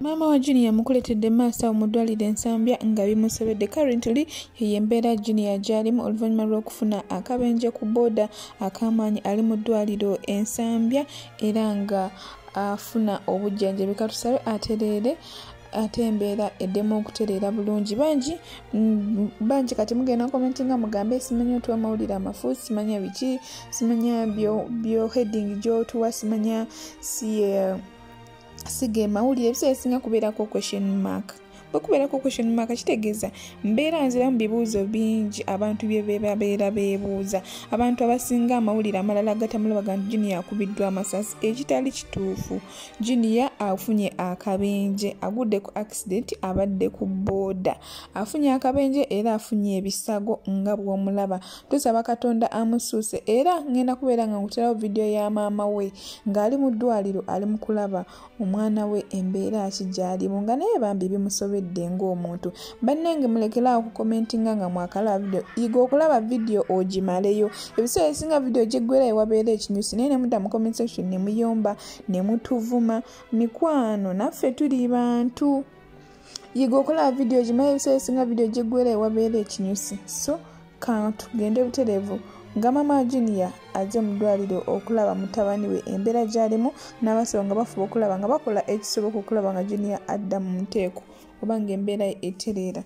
maama wa junior yamukuletedde maaso awo mu ddwaliro ensambya nga bimusobedde currently yeyo embeera junior gyalimu oluvannyuma lw'okufuna akabenje ku booda akamaanyi ali mu ddwaliro ensambya era nga afuna obujjanjabi katusabe atereere ate embeera eddemu okutereera bulungi bangi mm, bangi kati mugenda komenti nga mugambe simanya otuwa amawulire amafu simanya biki simanya byo heading gyotuwa simanya si uh, si ge mawulire ebiseera esinga kubeerako question mark bwekubeerako question mark kitegeeza mbeera nziramu bibuuzo bingi abantu byebebabeera beebuuza abantu abasinga amawulire amalala agatamulabaga nti juniya akubiddwa amasasi ekitali kituufu juniya afunye akabenje agudde ku accident abadde ku booda afunye akabenje era afunye ebisago nga bwomulaba tusaba katonda amusuuse era ngenda kubeera nga nkuterawo vidiyo ya maama we ng'ali mu ddwaliro ali mu kulaba omwana we embeera ki gyalimu nga naye bambi bimusobedde ng'omuntu bannange mulekeraawo okukomentinga nga mwakalaba vidiyo yiga okulaba vidiyo ogimaleyo ebiseera ebisinga vidiyo gyeggwera ewabeera ekinyusi naye nemudda mu comment section ne muyomba ne mutuvuma mikwano naffe tuli bantu yiga okola vidiyo gimanyi ebiseera esinga vidiyo gyeggwera ewabeera ekinyusi so katugende butereevu nga mama junior aze mu ddwaliro okulaba mutabani we embeera gyalimu n'abasawo nga bafuba okulaba nga bakola ekisoboka okulaba nga junior adda mu nteeko oba nga embeera ye etereera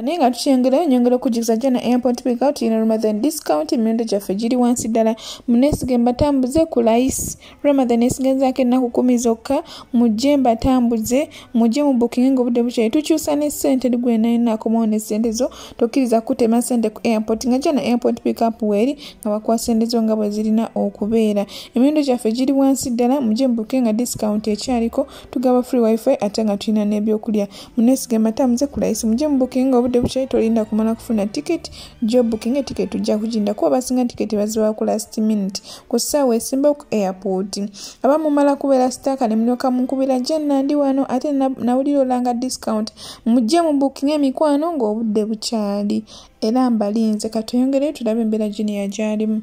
naye nga tukyengerayo nyongera okujjukiza jana airport pickup tulina ramadan discount emiwendo gyaffe giri wansi ddala muneesige mbatambuze ku layisi ramadan esigenzaako ennaku kumi zokka mujje mbatambuze mujje mu bookinge ngaobudde bukyayi tukyusa ne ssente eri gwenainakomawo ne ssente zo tokkiriza kutema ssente ku airport nga jana airport pickup weeri nga bakuwa ssente zo nga bwe zirina okubeera emiwendo gyaffe giri wansi ddala mujje mu bookinge nga discount ekyaliko tugaba free wifi ate nga tulina n'ebyokulya munesige mata muze kulayisi muje mubukinga obudde bukyayi tolinda kumala kufuna tiketi jo bukinga etiketi tujja kujinda kuba basinga tiketi bazibawa ku last minute ku ssaawa esimbawo ku airport aba mumala kubeera sitaaka ne mulyoka munkubira je nandi wano ate nawulira olanga discount mujje mu bukinga emikwano ng'obudde bukyali era mbalinze katoyongereyo tulabe embeera gini yagyalimu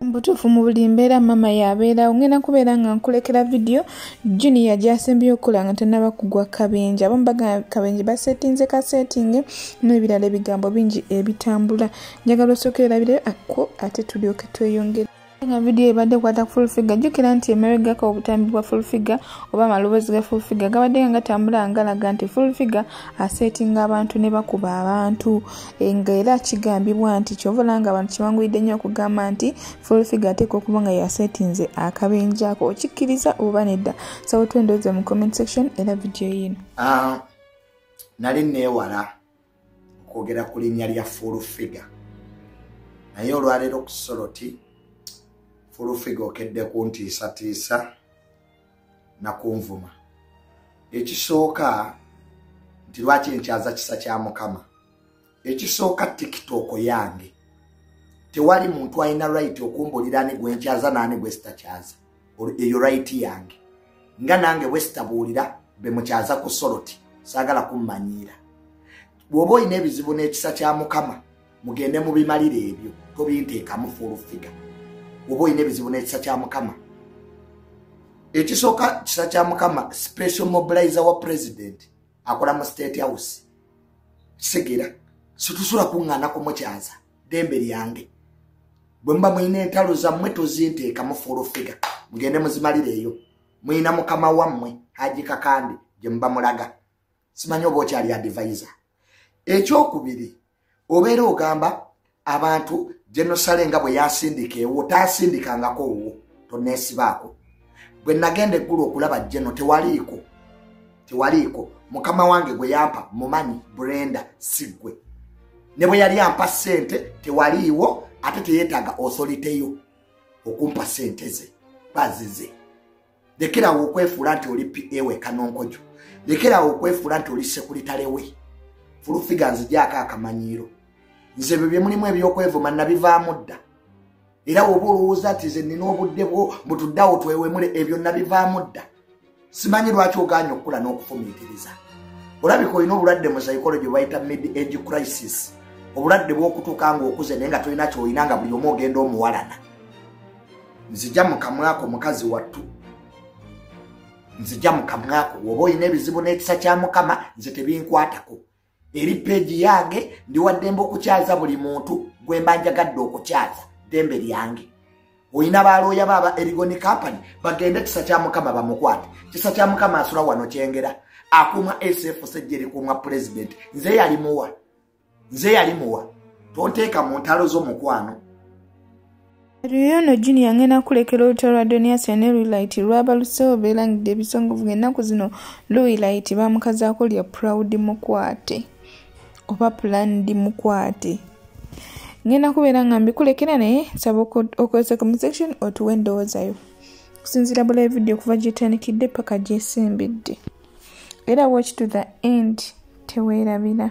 mbutuufu mu buli mbeera maama yabeerawo ngenda kubeera nga nkulekera vidiyo junia gyasembyeyo okukola nga tenaba kugwa kabenje abamu bagamba kabenje basetinze kasetinge n'ebirala ebigambo bingi ebitambula njagala osooka erabirayo akko ate tulyoke tweyongere nga vidiyo ebadde kwata ku fulfiga jjukira nti emeregako obutambi bwa fulfiga oba amaloboozi ga fulfiga gabadde nga gatambula ngalaga nti fulfiga asetinga abantu ne bakuba abantu Eh, nga era kigambibwa nti kyova olaba nga abantu kibanguyidde nnyo okugamba nti fulfiga ateeka okuba nga yasetinze akabenja ako okikkiriza oba nedda sawo twendoze mu comment section era vidiyo yiino ah, nali neewala okwogera ku linnya lya fulfiga naye olwaleero ku soloti fulfiga okedde kuntiisatiisa nakunvuma ekisooka nti lwaki enkyaza kisa kya mukama ekisooka tiktok yange tewali muntu alina right okumbulira ani gwenkyaza naani gwesitakyaza eyo right yange nga nange bwesitabuulira bemukyaza ku soloti saagala kummanyiira bw'oba olina ebizibu n'ekisa kya mukama mugende mubimalire ebyo tobinteekamu fulufiga oba olina ebizibu n'ekisa kya mukama ekisooka kisa kya mukama special mobilizer wa president akola mu state house kisegera situsula kuŋŋaana kumukyaza dembe lyange bwe muba mulina entalo zammwe tozinteekamu fulufiga mugende muzimalireeyo mulina mukama wammwe haji kakande gye muba mulaga simanyi oba okyali adivaiza ekyokubiri obeera ogamba abantu genosale nga bwe yasindika ewo tasindikangako owo tonesibaako bwe nagenda eggulu okulaba geno tewaliiko tewaliiko mukama wange gwe yampa mumanyi brenda siggwe ne bwe yali ampa ssente tewaliiwo ate teyetaaga osoliteyo okumpa ssente ze bazize lekerawo okwefuula nti oli pa we kanonkojo lekerawo okwefuula nti oli sekuritale we fulufiga nzijaako akamanyiiro nze ebyo bye mulimu ebyokwevuma nabivaamu dda era woba olowooza nti ze nina obudde bwo mutuddawo twewemule ebyo nabivaamu dda simanyi lwaki oganya okukula n'okufumiitiriza olabika olina obulwadde mu saikolo gye bayita mid age crisis obulwadde bwokutuuka nga okuze naye nga tolina kyolina nga buli omu ogenda omuwalana nzija mukamwako mukazi wattu nzija mukamwako woba olina ebizibu n'ekisa kya mukama nze tebinkwatako eri peegi yange ndiwaddembe okukyaza buli muntu gwe mba njagadde okukyaza ddembe lyange olina balooya baaba erigoni kampany bagende kisa kya mukama bamukwate kisa kya mukama asula wano kyengera akuuma sfsejja erikuuma pulezidenti nze yalimuwa nze yali muwa tonteeka mu ntalo zo mukwano Riyono Junior ngena kulekera olutalo lwa Donias ne Luilight lwabaluseewo beerangidde ebisongovu ng'ennaku zino Luilight baamukazaako lya Proud Mukwate oba Planned Mukwate. Ngenda kubeera nga mbikulekera naye nsaba okozesa comment section otuwe endowooza yo. Okusinziira bula vidiyo okuva gy'etandikidde paka gy'esimbidde. Era watch to the end teweerabira.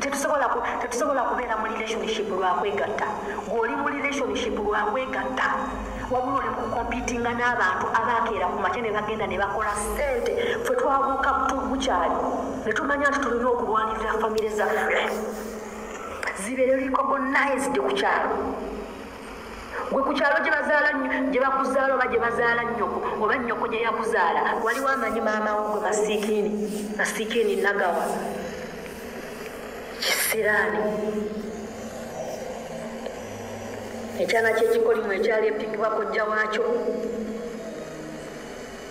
tetusobola tetusobola kubeera mu relationship lwakwegatta gweoli mu relationship lwakwegatta wabula oli mukukompitinga n'abantu abaakeera ku makya ne bagenda ne bakola sente fe twabuuka bukyali ne tumanya nti tulina okulwanirira famire zaffe zibeere likogonized ku kyalo gwe ku kyalo gye bazaala gye bakuzaala oba gye bazaala nnyoko oba nnyoko gye yakuzaala waliwo amanyi maama wo gwe masikiini masikiini nagawa kisiraani ekyana kyekikolimu ekyali epikibwa kojja waakyo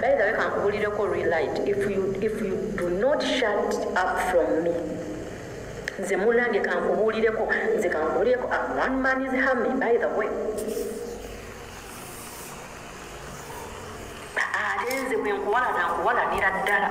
By the way, kankubulireko relight if you, if you do not shut up from me nze munange kankubulireko nze kankubulireko ah, one man is hami by the way ate nze bwenkuwalana nkuwalanira ddala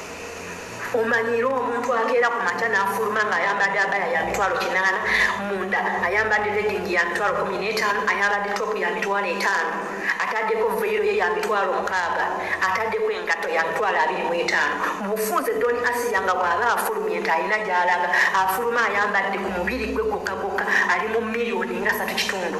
omanyiira omuntu akeera ku makya n'afuluma ng'ayambadde abaya ya mitwalo kinaana munda ayambadde redingi ya mitwalo kumi n'etaano ayambadde topu ya mitwalo etaano ataddeko veyiro ye ya mitwalo mukaaga ataddeko engatto ya mitwalo abiri mu etaano mu bufunze doni asiya nga bw'aba afulumye nti alina gy'alaga afuluma ayambadde ku mubiri gwe gwokka gwokka ali mu miliyoni nga satu kitundu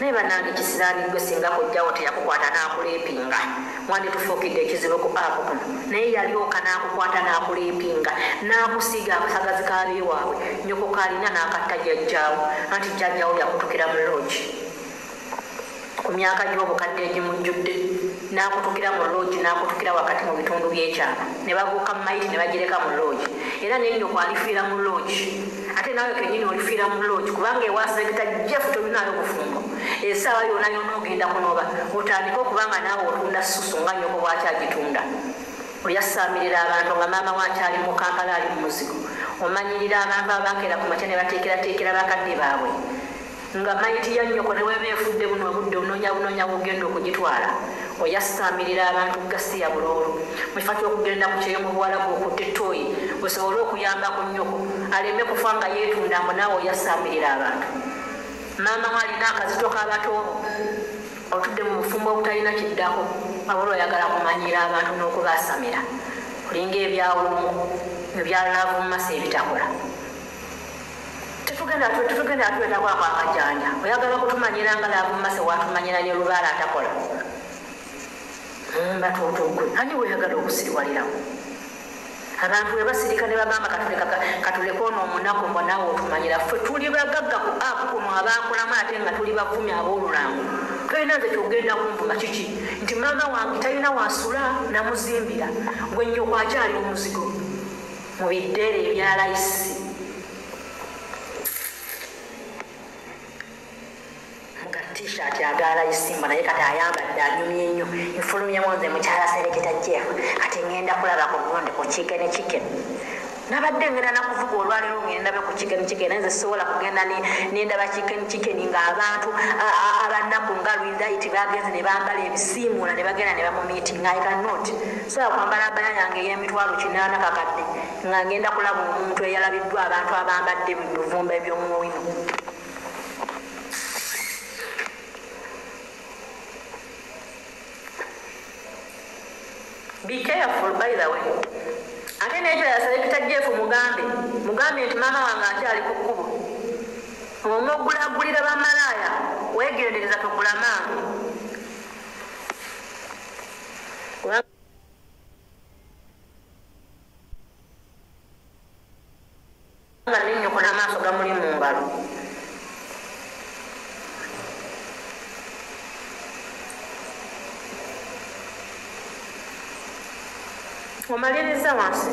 naye banange kisiraani gwe singa kojjawo teyakukwata n'akuleepinga mwandi tufuukidde ekizibu ku apu kuno naye yalyoka n'akukwata n'akuleepinga n'akusiiga akasagazi kaabe waabwe nyoko kaalina n'akatta jajjaawo anti jajjaawo yakutukira mu loogi ku myaka gy'obukadde egimujjudde n'akutukira mu loogi n'akutukira wakati mu bitundu by'ekyama ne babuuka mayiti ne bagireka mu loogi era ne nnyoko alifiira mu loogi ate naawe kenyini olifiira mu loogi kubanga ewaseeketa jeff tolinayo bufumbo esaawa yona yona ogenda kunoba otandike okubanga naawe otunda susu nga nyoko bwaki agitunda oyasaamirira abantu nga maama wakyali mu kampala ali mu muzigo omanyirira abantu abakeera ku makya ne bateekerateekera bakadde baabwe Nga mayiti ya nnyoko neweba efudde buno obudde ononya bunonya wogenda okugitwala oyasitamirira abantu gasiya buloolo mukifo kyokugenda ku kyeyo mu buwalabu okutte toyi wesobole okuyamba ku nnyoko aleme kufa nga yetunda mbu naawe oyasitamirira abantu maama we alina akazito kabatoobo otudde mu bufumbo obutalina kiddako abula oyagala kumanyiira abantu n'okubasamira olinga ebyawumu ebyalaavu mu masa ebitakola tetugenda twetako ako akajanja oyagala kutumanyira nga labumaso watumanyira ne lubaala atakola mbatotogwe hmm, ani weyagala okusiriwalirawo abantu webasirika ne bagamba katuleka ono omunaku mba naawe otumanyira ffe tuli bagagga ku apu kuno abaakulamu ate nga tuli bavumi aboolulango tolina nze kyogenda kunvuma kiki nti maama wange talina wasula namuzimbira gwe nnyoko akyali omuzigo mu bideere ebya layisi nga t-shirt aga layisi mba naye kati ayambadde anyumye nnyo nfulumyemu nze mukyala sereketa jeff kati ŋenda kulaba ku gundi ku kikene kikene nabadde ngenda nakuvuga olwaliro ngendabe ku chicken chicken naye nze sisobola kugenda nendaba chicken chicken nga abantu abanaku nga lwidait bagenze nebambala ebisiimuula nebagenda nebamumiitinga i cannot Nsobola kwambala abaya yange ey'emitwalo kinaana kakadde nga ngenda kulaba omuntu eyalabiddwa abantu abambadde mu bivumba eby'omuwino? Be careful by the way. Ate n'ekyo yasalekita Jeff mugambe mugambe nti maama wange akyali ku kkubo omugulagulira bamalaaya weegendereza togula maama nga nenyoko namaaso gamuli mu ngalo omaliriza wansi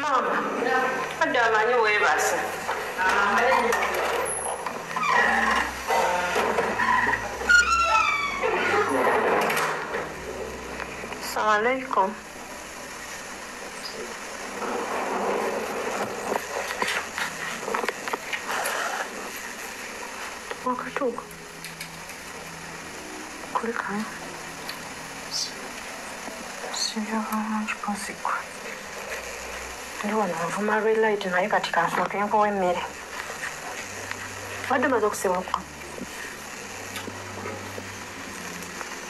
maama adde amanyi weebasa Assalamu alaikum. Walk her talk. Kulikano. Sibyo bulungi kuzikwa. Ndi wano nvuma red light naye kati kansooke nkowa emmere. Wadde maze okusibukwa.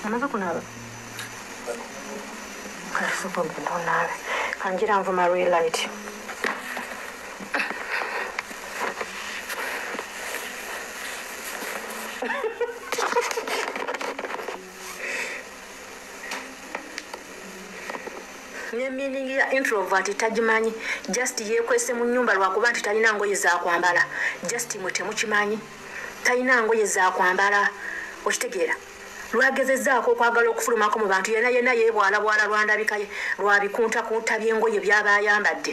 Amaze kunaaba. Kati sobola ogenda onaabe. Kangira nvuma red light. ne meaning ya introvert tagimanyi just yekwese mu nyumba lwakuba nti talina ngoye zakwambala just mwe temukimanyi talina ngoye zakwambala okitegeera lwagezezaako okwagala okufulumako mu bantu yena yena yebwalabwala lwandabikaye lwabikuntakunta byengoye byaba ayambadde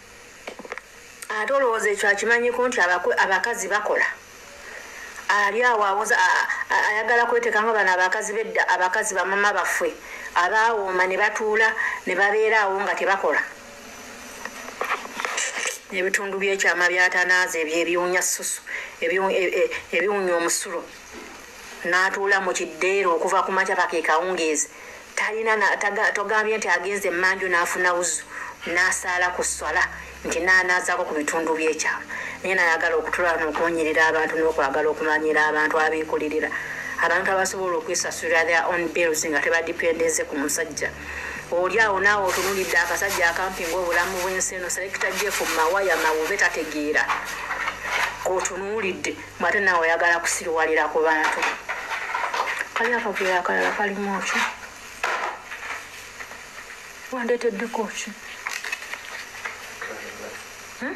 ate olowooza ekyo akimanyiko nti abakazi bakola ali awo awoza ayagala kweteka nga bano abakazi bedda abakazi bamama baffe abaawooma ne batuula ne babeera awo nga tebakola ebitundu byekyama byatanaaza ebyo ebiwunya susu e, e, ebiwunya omusulo n'atuula mu kiddeero okuva ku makya paka ekawungeezi talina togambye nti agenze emmanju n'afuna wuzu n'asaala ku sswala nti n'anaazaako ku bitundu by'ekyama naye nayagala okutulala n'okuwunyirira abantu n'okwagala okumanyira abantu abeekulirira abantu abasobola okwesasulira their own bills nga tebadipendeze ku musajja oli awo naawe otunulidde akasajja akampi ngaobulamu bw'ensi eno selekita jefu mawaya mawube tategeera kotunuulidde Mbu ate nawe oyagala kusiruwalira ku bantu kali akavuyo akalala kalimu ki wandeteddeko ki hmm?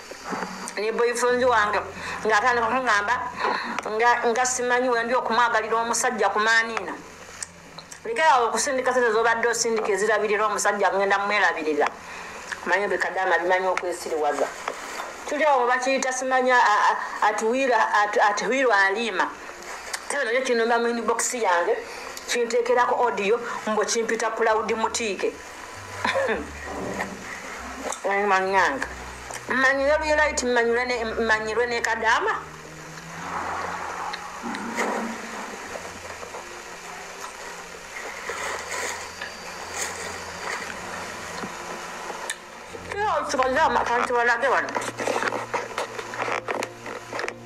ne boyfriend wange ngaatandika kungamba nga simanyi wendi okumwagalira omusajja kumaaniina lekerawo okusindika sente zobadde osindika ezirabirira omusajja ngenda mumwerabirira manyi bekadama bimanyi okwesiriwaza tuli awo bakiyita simanya atuwirwa aliima tena nakyo kinomba mu inbox yange kinteekerako audio mbu kimpita pulawudi mutiike manyanga mmanyire luyiraiti mmanyirwe ne kadaama kadaama kanti balage wano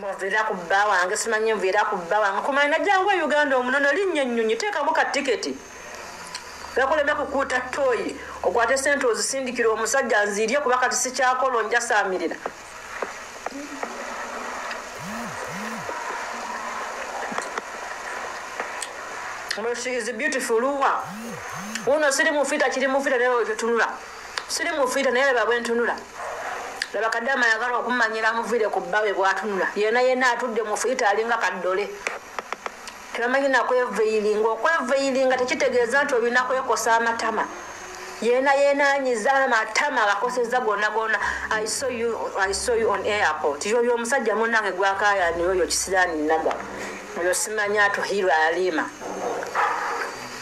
muvira ku bba wange simanyi nvira ku bba wange kumanya najjangu e uganda omunono linnya ennyonyi teekamu ka tiketi gakuleme kukuuta tooyi okwate sente ozisindikira omusajja nziirye kuba kati sikyakola onjasaamirira she is beautiful luwa uno siri mufita kiri mufita naye wetunula Siri mufiita naye laba bwentunula. Laba kadama yagala okumanyira amuvire ku bbawe bwatunula. Yena yena atudde mufiita alinga kaddole. Tebamanyi na kweveyilinga. Okweveyilinga tekitegeeza nti olina kwekosa amatama. Yena yena anyiza amatama agakoseza gonna gonna. I saw you, I saw you on airport. Yoyo omusajja munange gwakaya ni yoyo kisirani naga. Oyo simanya atuhirwa alima.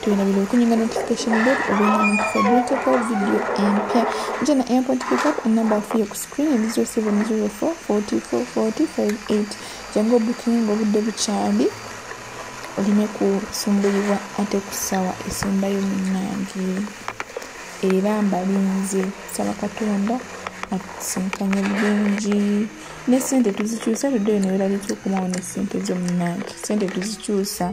tugenda bino bikunyiga notification bell ogenda mukufabrikako vidiyo empya njena airport pickup enamba afu yo ku screen eri 0704 44 458 jangu obukinga obudde bukyali oleme kusumbulibwa ate ku ssaawa esembayo munange era mbalinze saba katonda atusinkanye bulungi ne sente tuzikyusa ludde yo neweralikyokuma wo ne sente zo munange sente tuzikyusa